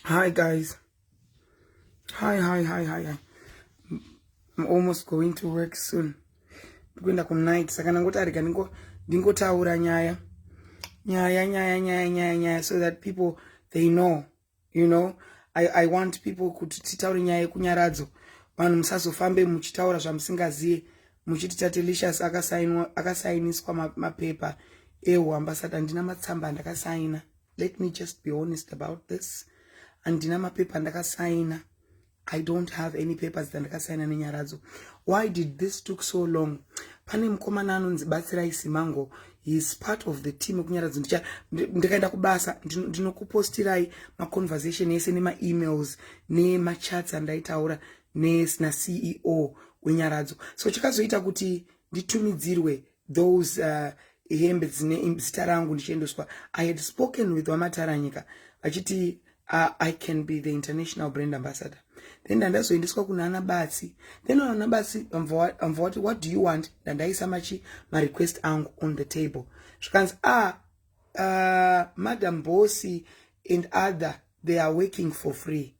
Hi guys. Hi, hi, hi, hi, hi. I'm almost going to work soon. Ndikuenda ku night saka ndangoti arega ndingo ndingotaura nyaya. Nyaya, nyaya, nyaya, nyaya, nyaya so that people they know, you know. I, I want people kuti titaure nyaya yekunyaradzo. Vanhu musazofambe muchitaura zvamusingaziye muchiti Tatelicious akasainiswa mapepa ehu ambassador ndina matsamba ndakasaina. let me just be honest about this handina mapepa andakasaina i don't have any papers dzandakasaina nenyaradzo why did this took so long pane mukomana anonzi batsirai simango heis part of the team ekunyaradzo ndicha ndikaenda kubasa ndinokupostirai maconversation ese nemaemails nemachats andaitaura nasina ceo wenyaradzo so chakazoita kuti nditumidzirwe those uh, hembe dzine zita rangu ndichiendeswa i had spoken with vamataranyika vachiti uh, i can be the international brand ambassador then ndandazoendeswa kuna ana batsi then ana batsi vamva wati what do you want ndandaisa machi marequest angu on the table zvikanzi ah uh, madam bossy and other they are working for free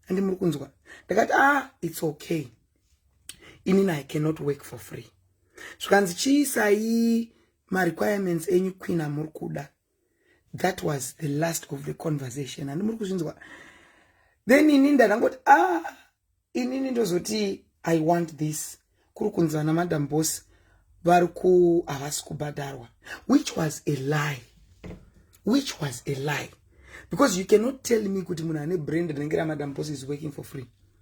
andi muri kunzwa ndakati ah it's okay inini i cannot work for free zvikanzi chiisai marequirements enyu queen amuri kuda that was the last of the conversation handi muri kuzvinzwa then ini ndandangoti ah inini ndozoti i want this kuri kunzi vana madam boss vari ku havasi kubhadharwa which was a lie which was a lie because you cannot tell me kuti munhu ane brand rinenge ramadam boss is working for free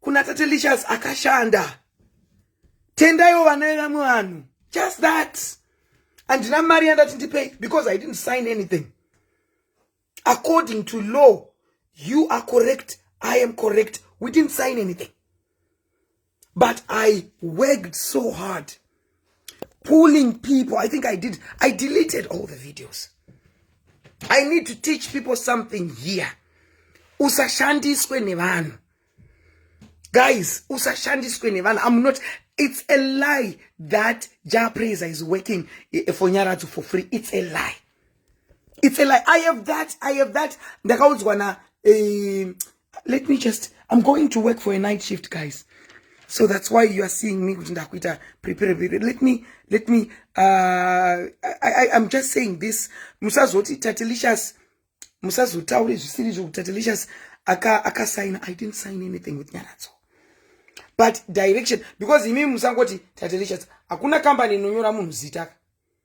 kuna tate licious akashanda tendaiwo vana vevamwe vanhu just that handina mari yandati ndipei because i didn't sign anything according to law you are correct i am correct we didn't sign anything but i worked so hard pulling people i think i did i deleted all the videos i need to teach people something here usashandiswe nevanhu guys usashandiswe nevanhu i'm not it's a lie that jah praiser is working eh, eh, for nyaradzo for free it's a lie it's a lie i have that i have that ndakaudzwa na eh, let me just i'm going to work for a night shift guys so that's why you are seeing me kuti ndakuita prepare let me let me uh, I, I, i'm just saying this musazoti tatelicious musazotaure zvisiri zvokuti tatelicious akasaina aka i didn't sign anything with nyaradzo but direction because imi musangoti tatelicious hakuna kambani inonyora munhu zita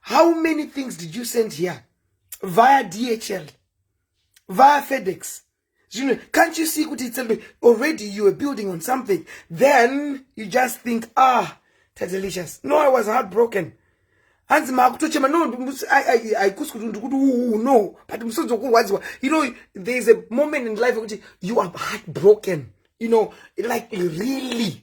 how many things did you send here via dhl via fedex zvino can't you see kuti it's already you are building on something then you just think ah tadelicious no i was heartbroken hanzi maakutochema no haikusi kuti ndikuti uu no but musodzi wokurwadziwa you know there is a moment in life yekuti you are heartbroken you know like really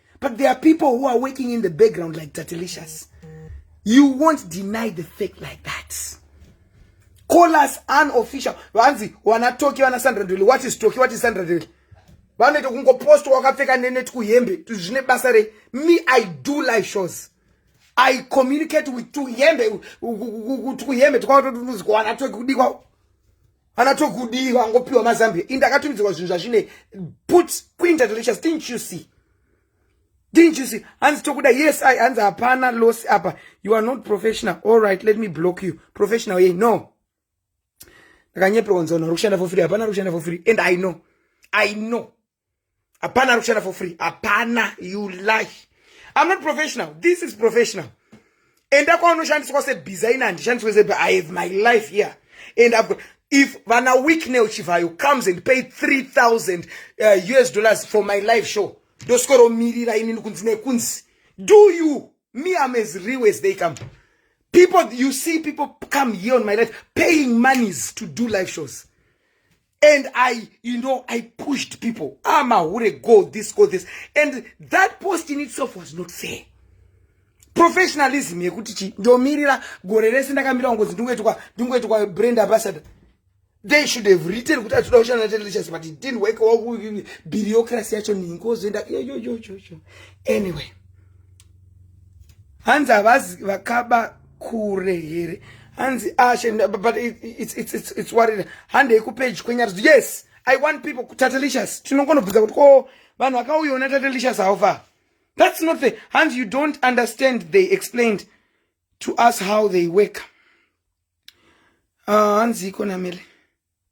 but there are people who are working in the background like tatelicious you won't deny the fact like that call us unofficial vanzi wanatoki vana sandra dwele what is toki what is sandra dwele vanoita kungopostwa wakapfeka neneti kuhembe zvine basa rei me i do live shows i communicate with tuhembe tuhembe twakatotunuzikwa wanatoki kudikwa ana tokudii vangopiwa mazambia indi akatumidzirwa zvinhu zvazvine put kuinda delicious didn't you see didn't you see hanzi tokuda yes i hanzi hapana loss apa you are not professional all right let me block you professional yei no ndakanyeperwa nzona uri kushanda for free hapana uri kushanda for free and i know i know hapana ari kushanda for free hapana you lie i'm not professional this is professional enda kwaunoshandiswa sebhiza ini handishandiswe sebe i have my life here and i've got if vana weeknel chivayo comes and pay 3000 uh, us dollars for my live show ndosworomirira inini kunzi nekunzi do you me am as real as they come people you see people come here on my life paying monies to do live shows and i you know i pushed people ah mahure go this go this and that post in itself was not fair professionalism yekuti chi ndomirira gore rese ndakamira kungozi ndingoitwa ndingoitwa brand ambassador they should have written kuti atida kushanda natelicious but it didn't work well bureaucracy yacho ningozoenda yoyoyoyoyo anyway hanzi havazi vakaba kure here hanzi ashe ah, but it's, it's, it's, it's worried handei kupage kwenyari yes i want people kutatelicious tinongonobvunza kuti ko vanhu vakauyaona tatelicious haufa that's not the hanzi you don't understand they explained to us how they work ah, hanzi uh, iko namele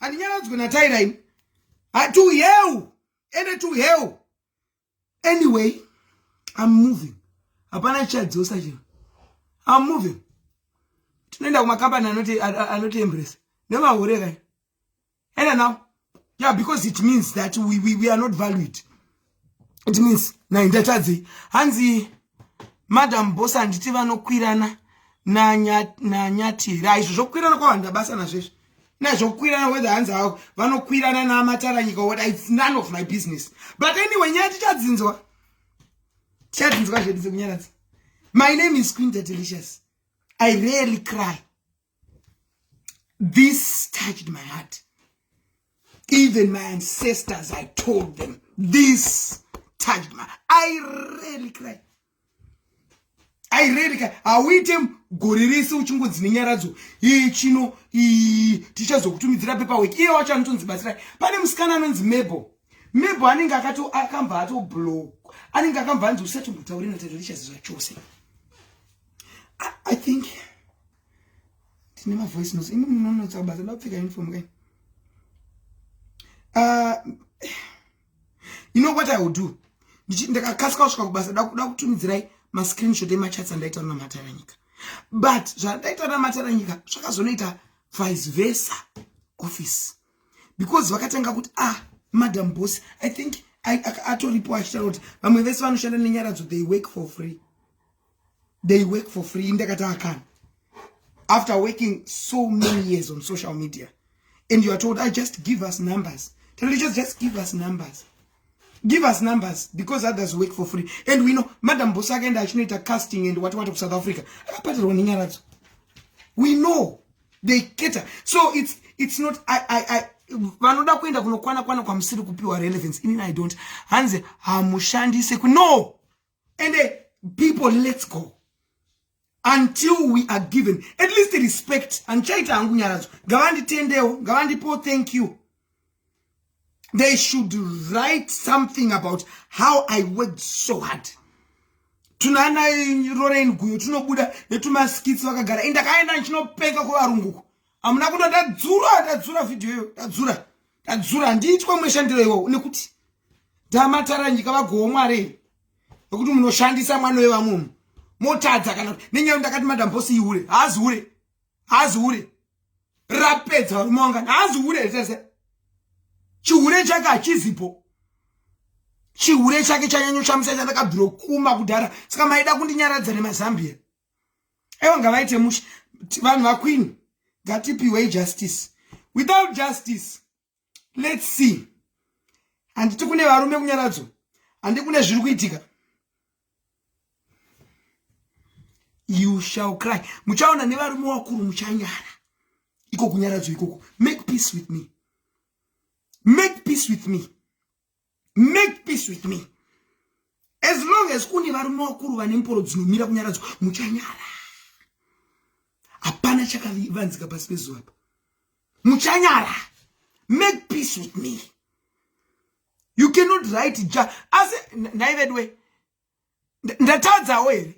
handinyaradzwe nataira ini to hell ende to hell anyway i'm moving hapana chichadzosa chino i'm moving tinoenda kumakambani anoti anoti embrace nemahure kai enda now yeah because it means that we, we, we are not valued it means nai ndatadzei hanzi madam boss handiti vanokwirana nanyati here aizvo zvokwirana kwavanda basa nazvezvi na zvokwirana whether hanzi havo vanokwirana namataranyika what its none of my business but anyway nyaya tichadzinzwa tichadzinzwa zvedu dzekunyaradza my name is queen delicious i rarely cry this touched my heart even my ancestors i told them this touched my i really cry i really cry hauite gore rese uchingonzi nenyaradzo iyi chino iyi tichazokutumidzira pepawek iye wacho anotonzi batsirai pane musikana anonzi mable mebo anenge akambva atoblock anenge akambva anzi usati mutaure natatarichazizva chose I think tine mavoice notes imi munonotsa basa ndapfeka uniform kai uh, you know what i will do ndakakasika kusvika kubasa da kutumidzirai mascreenshot emachats andaita na mataranyika but zvandaita na mataranyika zvakazonoita vice versa office because vakatanga kuti ah madam boss i think atoripo achitaura kuti vamwe vese vanoshanda nenyaradzo they work for free they work for free ndakati akana after working so many years on social media and you are told i ah, just give us numbers just, just give us numbers give us numbers because others work for free and we know madam boss akaenda achinoita casting and what what of south africa akapatirwa nenyaradzo we know they cater so it's it's not i i i vanoda kuenda kunokwana kwana kwamusiri kupiwa relevance inini i don't hanzi hamushandise ku no and uh, people let's go until we are given at least respect handichaita hangu nyaradzo ngavanditendewo ngavandipo thank you they should write something about how i worked so hard tunaana rorain guyo tunobuda netumaskitsi vakagara indakaenda ndichinopenga kuvarunguko hamuna kuda ndadzura ndadzura vhidhiyo iyo ndadzura tadzura handiitwa mweshandiro iwowo nekuti ndamatara nyika vagowo mwari nokuti munoshandisa mwana wevamwe mu motadza kana kuti nenyaya ndakati madam bosi ihure haazi hure haazi hure rapedza varume wangani haazi hure here tese chihure chake hachizipo chihure chake chanyanyoshamisa chandakabviro kuma kudhara saka maida kundinyaradza nemazambia ewa ngavaite mushe vanhu vakwini ngatipiwei justice without justice let's see handiti kune varume kunyaradzo handi kune zviri kuitika you shall cry muchaona nevarume wakuru muchanyara iko kunyaradzo ikoko make peace with me make peace with me make peace with me as long as kune varume vakuru vane mporo dzinomira kunyaradzwa muchanyara hapana chakavanzika pasi pezuva pa muchanyara make peace with me you cannot write ja asi nhai veduwe ndatadzawo here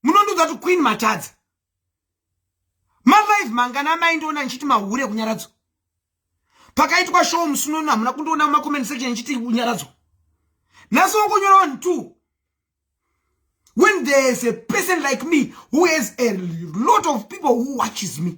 munondiudza kuti queen matadza malive mangana amai ndoona ndichiti mahure kunyaradzwa pakaitwa show musunono hamuna kundiona mumacoment section ndichiti unyaradzwa nhasi wangonyora one two when there's a person like me who has a lot of people who watches me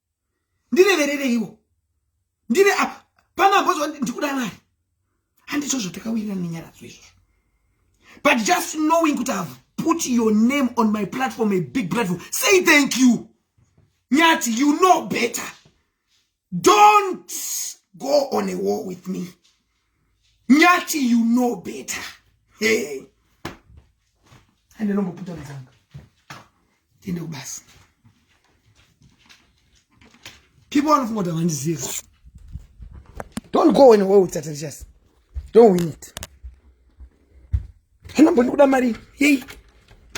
ndireverereiwo ndire apa pano ambozwa ndikuda mari handizvo zvatakawirirana nenyaradzo izvozvo but just knowing kuti have put your name on my platform a big platform say thank you nyati you know better don't go on a war with me nyati you know better hey. ande nomboputa mudzanga tiende kubasa people vanofunga kuti havandizivi don't go anywhere with tatatias don't win it hana mboni kuda mari yei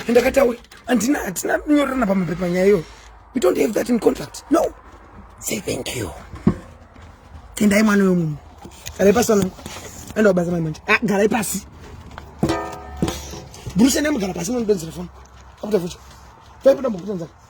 andakatawe andina hatina nyorerana pamapepa nyaya iyoyo we don't have that in contract no say thank you tendai mwana wemunhu garai pasi vanangu enda wabasa mai manje ah, garai pasi burusha nemugara pasi munodonzera foni akuta futi paipinda mukutenzaka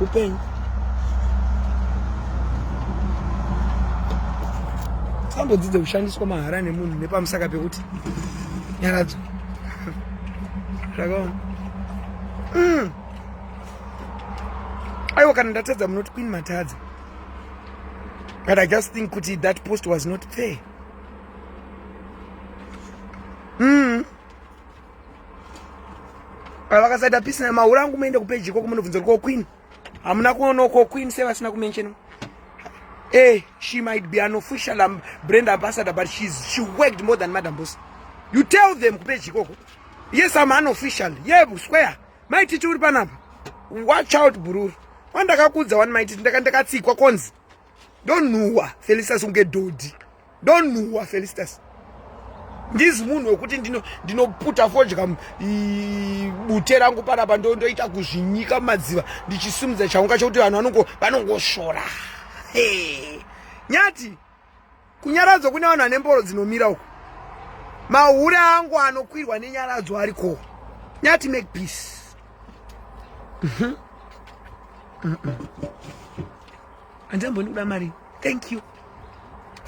upenyu sambodzidza kushandiswa mahara nemunhu nepamusaka pekuti nyaradzo zvakaona mm. aiwa kana ndatadza munoti queen matadza but i just think kuti that post was not fair mm. vakasaita pisi na maura angu muende kupeji ikoko munobvunza ko queen hamuna kuona ko queen se vasina kumention hey, eh, she might be an official um, brand ambassador but she's, she worked more than madam boss you tell them kupeji ikoko yes am an official ye yeah, square maititi uri panapa watch out bururu wandakakudza wani maititi ndakatsikwa konzi ndonhuwa felistas unge dhodhi ndonhuwa felistas ndizi munhu wekuti ndinoputa fodya bute rangu panapa ndondoita kuzvinyika mumadziva ndichisimudza chaunga chokuti vanhu vanongosvora nyati Kunyaradzwa kune vanhu vane mboro dzinomira uko. Mahure angu anokwirwa nenyaradzo ariko. Nyati make peace. Mhm. Andamboni kuda mari. Thank you.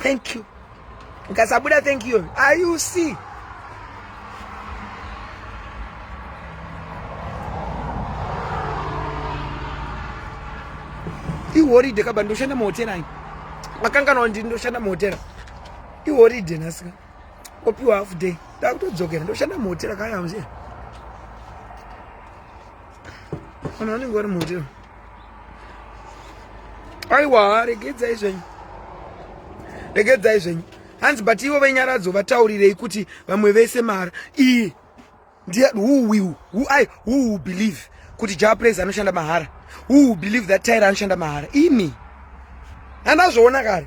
Thank you. Ukasabuda thank you. Are you see? ihoride kaba ndoshanda muhotera ayi makanganwa ndini ndoshanda muhotera ihoride nhasika opiwa half day ndakutodzokera ndoshanda muhotera kaya mzee vanhu vanenge vari muhotera aiwa regedzai zvenyu regedzai zvenyu hanzi but ivo venyaradzo vataurirei kuti vamwe vese mara iyi ndiye who will who i who will believe kuti jah praise anoshanda mahara who will believe that tyra anoshanda mahara ini handazvoona kare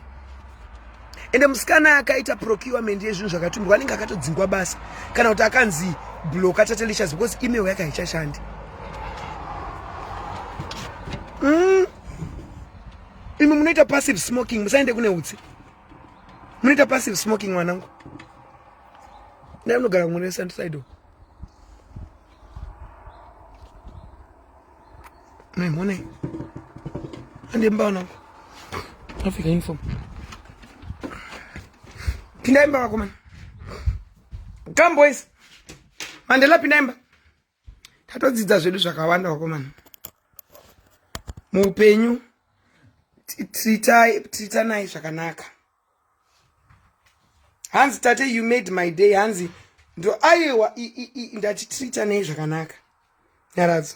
ende musikana akaita procurement yezvinhu zvakatumirwa anenge akatodzingwa basa kana kuti akanzi bloka tatelicious because email yake haichashandi mm. imi munoita passive smoking musaende kune utsi munoita passive smoking mwanangu ndai munogara kumwe nesandisaidoo Hey, morning. Ande mbao nangu. Africa uniform. Pindaimba wako man. Come boys. Mandela pindaimba. tatodzidza zvedu zvakawanda vakomana muupenyu tiritanai zvakanaka hanzi tate you made my day hanzi ndo aiwa ndatitiritanei zvakanaka nyaradzo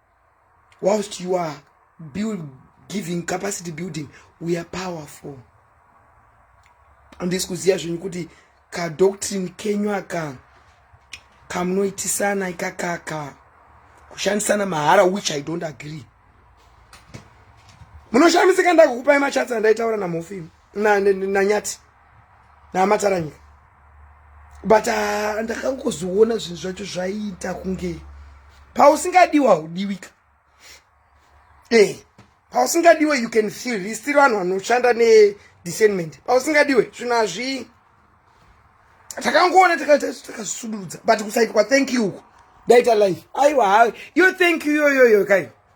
whilst you are build, giving capacity building we are powerful andisi kuziva zvenyu kuti kadoctrine kenyu aka kamunoitisana ikakaka kushandisana mahara which i don't agree munoshamisika ndakukupai machatsi andaitaura namhofi nanyati na, na, na, namataranyika but ah, ndakangozoona zvinhu zvacho zvaiita kunge pausingadiwa udiwika e eh, pausingadiwe you can feel risiri vanhu vanoshanda nediscernment pausingadiwe zvinhu hazvii takangoona takazvisudurudza but kusaitwa thank you uku daita life aiwa hayo yo thank you yoyoyo kai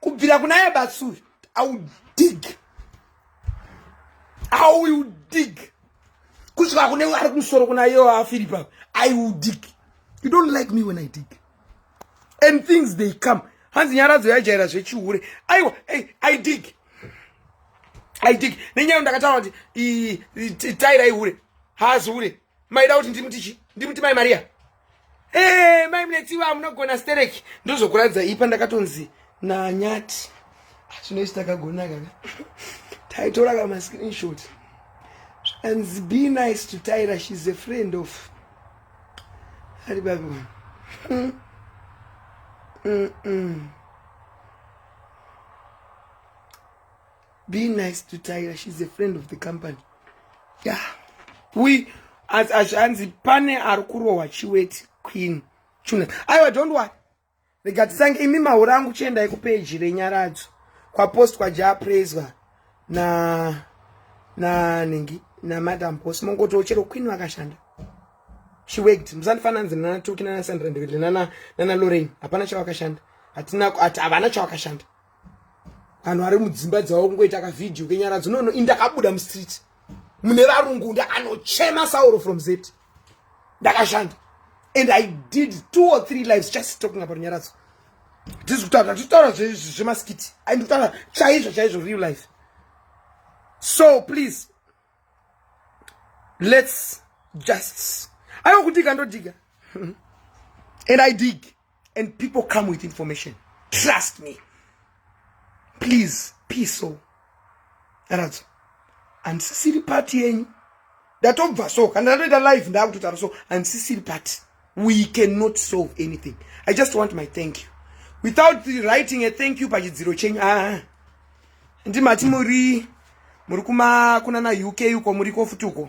kubvira kuna yebatsu i will dig i will dig kusvika kune ari kumusoro kuna iyo afiri pa i will dig you don't like me when i dig and things they come hanzi nyaradzo yaijaira zvechihure aiwa hey, i dig i dig nenyaya ndakataura kuti taira ihure haazi hure maida kuti ndimuti chi ndimuti mai maria ee eh, mai munetsiva amunogona stereki ndozokuratidza ipa ndakatonzi nanyati zvinoiti takagona kaka taitora ka mascreenshot zvakanzi be nice to tyra shes a friend of ari babi wani mm. mm -mm. be nice to tyra she's a friend of the company ya yeah. we azvanzi pane ari kurohwa chiweti queen chuna aiwa don't wori rega tisange imi maura angu chiendai kupeji renyaradzo kwapostwa jaapraiswa na nanhingi namadam bos mongotiwo chero queen vakashanda she worked musandifanira nzi nana toki nana sandra ndiviri nana nana lorraine hapana chavakashanda hatina havana chavakashanda vanhu vari mudzimba dzavo kungoita kavhidhiyo kenyaradzo nono ini ndakabuda mustreet mune varungu ndakanochema sauro from zet ndakashanda and i did two or three lives just talking about nyaradzo tisi kutaura titaura zvemaskiti ai ndikutaura chaizvo chaizvo real life so please let's just aiwa kudika ndodika and i dig and people come with information trust me please piso aradzo handisisiri pati yenyu ndatobva so kana ndatoita live ndaakutotaura so handisisiri pati we cannot solve anything i just want my thank you without writing a thank you pachidziro chenyu aa ndimati muri muri kuma kuna na uk uko muri kofuti uko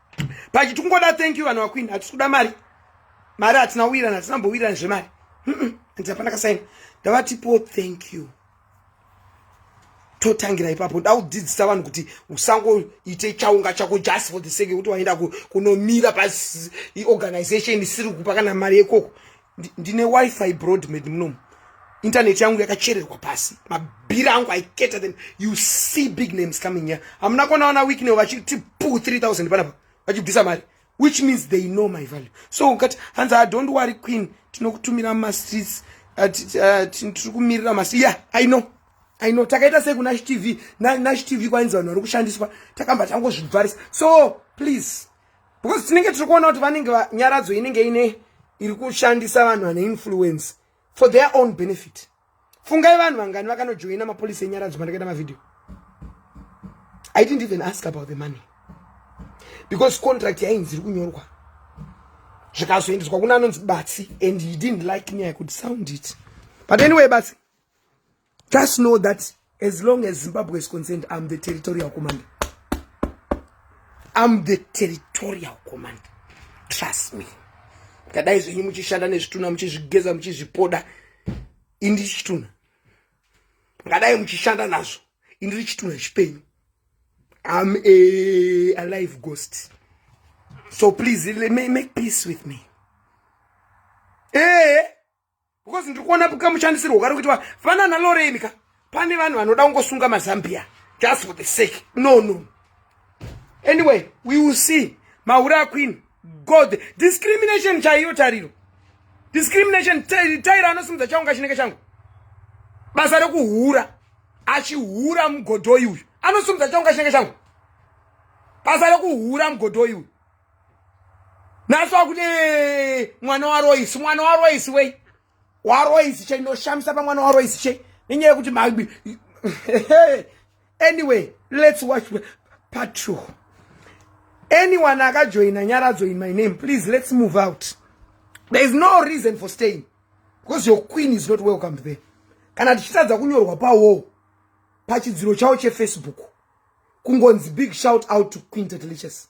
pachi tikungoda thank you vanhu vakwini hatisi kuda mari mari hatina kuwirana hatina mbowirana zvemari hanzi hapana kasaina ndavatipo thank you totangira ipapo ndaudzidzisa vanhu kuti usangoite chaunga chako just for the sake yekuti waenda kunomira paorganization isiri kupa kana mari yekoko ndine wifi broadmed munomu internet yangu yakachererwa pasi mabhiri angu aiketa then you see big names coming here hamuna kuona wana week now vachiti pu 3000 panapa vachibvisa mari which means they know my value so ukati hanzi i ah, don't worry queen tinokutumira mumastreets uh, uh, tiri kumirira masi yeah i know i know takaita sei kunash tv nash tv kwainzi vanhu vari kushandiswa takamba tangozvibvarisa so please because tinenge tiri kuona kuti vanenge nyaradzo inenge ine iri kushandisa vanhu vane influence for their own benefit fungai vanhu vangani vakanojoina mapolisi enyaradzo mandakaita mavhidhiyo i didn't even ask about the money because contract yainzi iri kunyorwa zvikazoendeswa kuna anonzi batsi and he didn't like me i could sound it but anyway batsi Just know that as long as Zimbabwe is concerned, I'm the territorial commander. I'm the territorial commander. Trust me. Kadai zvenyu muchishanda nezvituna muchizvigeza muchizvipoda indiri chituna. Kadai muchishanda nazvo indiri chituna chipenyu. I'm a alive ghost. So please make peace with me. Hey! Eh? because ndiri kuona kamushandisirwo kari kuitwa fana naloreni ka pane vanhu vanoda kungosunga mazambia just for the sake no no anyway we will see mahure aqueen god discrimination chaiyo tariro discrimination taira anosimudza chaunga chinenge changu basa rekuhura achihura mugodhoyi uyu anosimudza chaunga chinenge changu basa rekuhura mugodhoyi uyu nhasi wakuti mwana waroisi mwana waroisi wei waroisi chei ndoshamisa pamwana waroisi chei nenyaya yekuti magbi anyway let's watch part two anyone akajoina nyaradzo in my name please let's move out there is no reason for staying because your queen is not welcomed there kana tichitadza kunyorwa pawall pachidziro chavo chefacebook kungonzi big shout out to queen tatelichess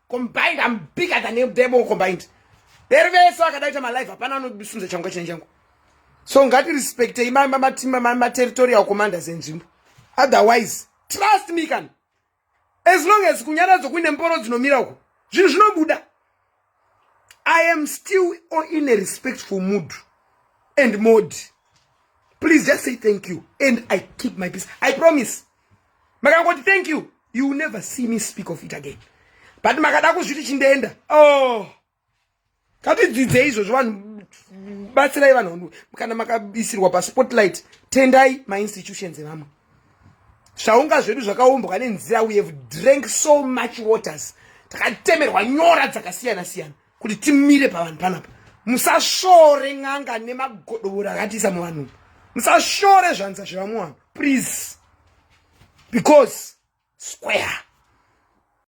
combined i'm bigger than demo combined veri vese vakadaita malive hapana anosunza changu kachine changu so ngati respectei materritorial commanders enzvimbo otherwise trust me kan as long as kunyaradzo kuine mboro dzinomira uko zvinhu zvinobuda i am still in a respectful mood and mode please just say thank you and i keep my peace i promise makangoti thank you you will never see me speak of it again but makada kuzviti chindeenda oh katidzidzei izvozvo vanhu batsirai vanhu kana makaisirwa paspotlight tendai mainstitutions evamwe zvaunga zvedu zvakaumbwa nenzira we have drank so much waters takatemerwa nyora dzakasiyana siyana kuti timire pavanhu panapa musashore n'anga nemagodobori akatiisa muvanhu musashore zvanza zvevamuwanhu please because square